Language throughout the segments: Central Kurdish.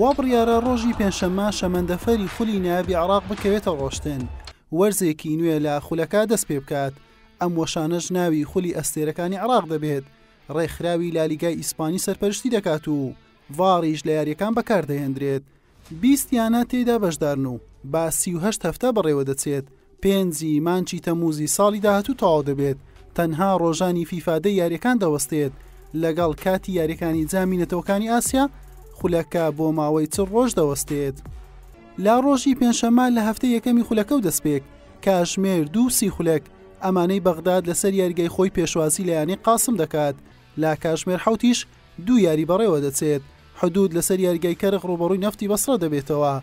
وا بڕیارە ڕۆژی پێنجشەممە شەمەندەفەری خولی نایابی عێراق بکەوێتە ڕۆشتن وەرزێکی نوێ لە خولەکە دەست پێ بکات ئەم وەشانەش ناوی خولی ئەستێرەکانی عراق دەبێت ڕێکخراوی لالیگای ئیسپانی سەرپەرشتی دەکات و ڤاڕیش لە یاریەکان بەکاردەهێندرێت بیست یانە تێیدا بەشدارن و با سی و هەشت هەفتە بەڕێوەدەچێت، پێنج ی مانچی تەمووزی ساڵی داهاتوو تەواو دەبێت، تەنها رۆژانی فیفا دە یارییەکان دەوەستێت، لەگەڵ کاتی یارییەکانی جامی نەتەوەکانی ئاسیا، خولەکە بۆ ماوەی چل رۆژ دەوەستێت. لە رۆژی پێنجشەممە لە هەفتەی یەکەمی خولەکە و دەستپێک کاژمێر دوو سی خولەک ئەمانەی بەغداد لەسەر یاریگای خۆی پێشوازی لە یانەی قاسم دەکات، لە کاتژمێر حەوتیش دوو یاری بەڕێوەدەچێت، حدوود لەسەر یاریگای کەرخ رووبەڕووی نەفتی بەسڕە دەبێتەوە،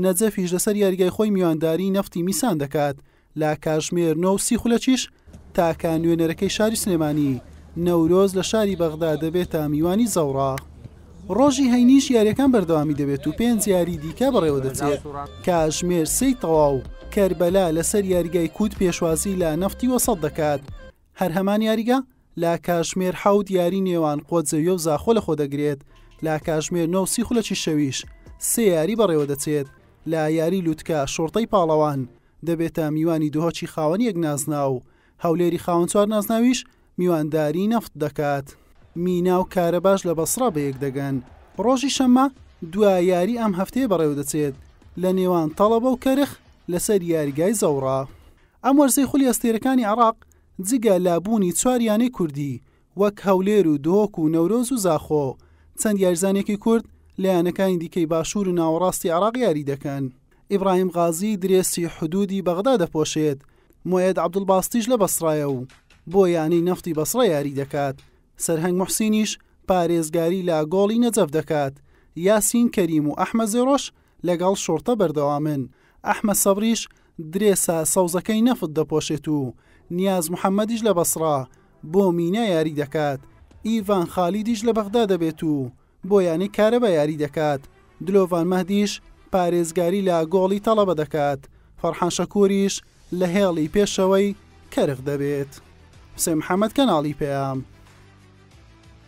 نەجەفیش لەسەر یاریگای خۆی میوانداریی نەفتی میسان دەکات، لە کاتژمێر نۆ و سی خولەکیش تاکە نوێنەرەکەی شاری سلێمانی، نەورۆز لە شاری بەغدا دەبێتە میوانی زەوڕا. رۆژی هەینیش یارییەکان بەردەوامی دەبێت و پێنج یاریی دیکە بەڕێوەدەچێت، کاتژمێر سێی تەواو کەربەلا لەسەر یاریگای کووت پێشوازیی لە نەفتی وەسەت دەکات، هەر هەمان یاریگا، لە کاژمێر حەوت یاری نێوان قۆتزەویە و زاخۆ لە خۆ دەگرێت، لە کاژمێر نۆ و سی خولەکی شەویش سێ یاری بەڕێوە دەچێت، لە یاری لوتکە شوڕتەی پاڵەوان دەبێتە میوانی دهۆکی خاوەن یەک نازناو، هەولێری خاوەن چوار نازناویش میوانداری نەفت دەکات. مینا و کارەباش لە بەسڕە بەیەک دەگەن. ڕۆژی شەممە دوا یاری ئەم هەفتەیە بەڕێوە دەچێت لە نێوان تەڵەبە و کەرخ لەسەر یاریگای زەوڕا. ئەم وەرزەی خولی ئەستێرەکانی عێراق جگە لە بوونی چوار یانەی کوردی وەک هەولێر و دهۆک و نەورۆز و زاخۆ، چەند یاریزانێکی کورد لە یانەکانی دیکەی باشوور و ناوەڕاستی عێراق یاری دەکەن. ئیبراهیم غازی درێسی حدوودی بەغدا دەپۆشێت، موئێد عەبدولباسطیش لە بەسڕایە و بۆ یانەی نەفتی بەسڕە یاری دەکات، سەرهەنگ موحسینیش پارێزگاری لە گۆڵی نەجەف دەکات، یاسین کەریم و ئەحمەد زێڕۆش لەگەڵ شوڕتە بەردەوامن. ئەحمەد سەبریش درێسە سەوزەکەی نەفت دەپۆشێت و نیاز محەمەدیش لە بەسڕا بۆ مینا یاری دەکات، ئیڤان خالیدیش لە بەغدا دەبێت و بۆ یانەی کارەبا یاری دەکات، دلۆڤان مەهدیش پارێزگاری لە گۆڵی تەڵەبە دەکات، فەرحان شەکوریش لە هێڵی پێشەوەی کەرخ دەبێت. حوسێن محەمەد، کەناڵی پەیام.